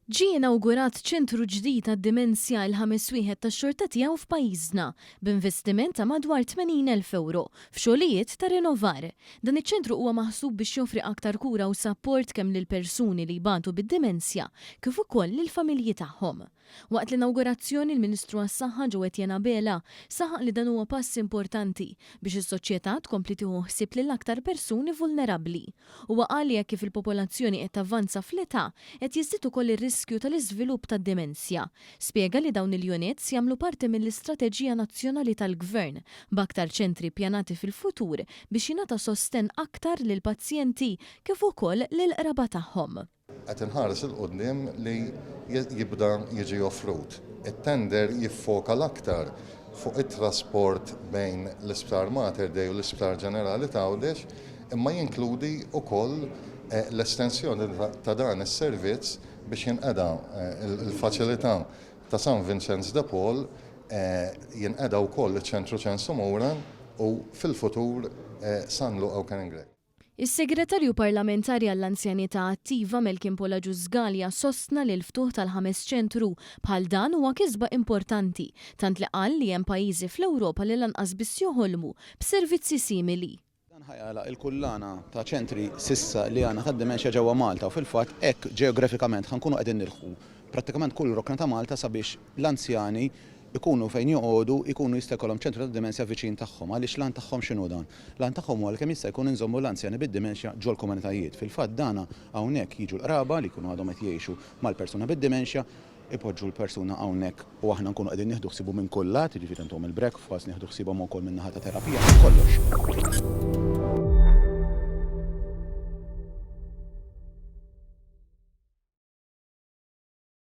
Ġie inawgurat ċentru ġdid għad-dimensja, il-ħames wieħed tax-xorta tiegħu f'pajjiżna, b'investiment ta' madwar 80 elf ewro, f'xogħlijiet ta' rinovar. Dan iċ-ċentru huwa maħsub biex joffri aktar kura u sapport kemm lill-persuni li jbatu bid-dimensja kif ukoll lill-familji tagħhom. Waqt l-inawgurazzjoni, l-Ministru għas-Saħħa Joe Etienne Abela saħaq li dan huwa pass importanti biex is-soċjetà tkompli tieħu ħsieb lill-aktar persuni vulnerabbli. Huwa qal li hekk kif il-popolazzjoni qed tavvanza fl-età, qed jiżdied ukoll ir-riskju tal-iżvilupp tad-demenzja. Spjega li dawn il-units jagħmlu parti mill-istrateġija nazzjonali tal-Gvern, b'aktar ċentri ppjanati fil-futur biex jingħata sostenn aktar lill-pazjenti kif ukoll lill-qraba tagħhom. Qed inħares 'il quddiem li jibda jiġi offrut. It-tender jiffoka l-aktar fuq it-trasport bejn l-Isptar Mater Dei u l-Isptar Ġenerali t'Għawdex imma jinkludi wkoll l-estensjoni ta' dan is-servizz biex jinqeda' l-faċilità ta' San Vinċenz de Paul, jinqeda' wkoll iċ-Ċentru Ċensu Mura u fil-futur San Luqa u Karen Gregg. Is-Segretarju Parlamentari għall-Anzjanità Attiva Melkin Polagius Scalia sostna li l-ftuħ tal-ħames ċentru bħal dan huwa kisba importanti, tant li qal li hemm pajjiżi fl-Ewropa li lanqas biss joħolmu b'servizzi simili. Dan ħa jagħlaq il-kullana ta' ċentri s'issa li għandna tad-dimenxja ġewwa Malta u fil-fatt hekk ġeografikament ħa nkunu qegħdin nilħqu prattikament kull rokna ta' Malta sabiex l-anzjani ikunu fejn joqogħdu jkunu jista' jkollhom ċentru tad-dimensja viċin tagħhom. Għaliex l-għan tagħhom x'inhu dan? L-għan tagħhom huwa li kemm jista' jkun inżommu l-anzjani bid-dimenxja ġol-komunitajiet. Fil-fatt dana hawnhekk jiġu l-qraba li jkunu għadhom qed jgħixu mal-persuna bid-dimenxja, ipoġġu l-persuna hawnhekk u aħna nkunu qegħdin nieħdu ħsiebu minn kull lat, jiġifieri ntuhom il-breakfast, nieħdu ħsiebhom ukoll min-naħa ta' terapija, minn kollox.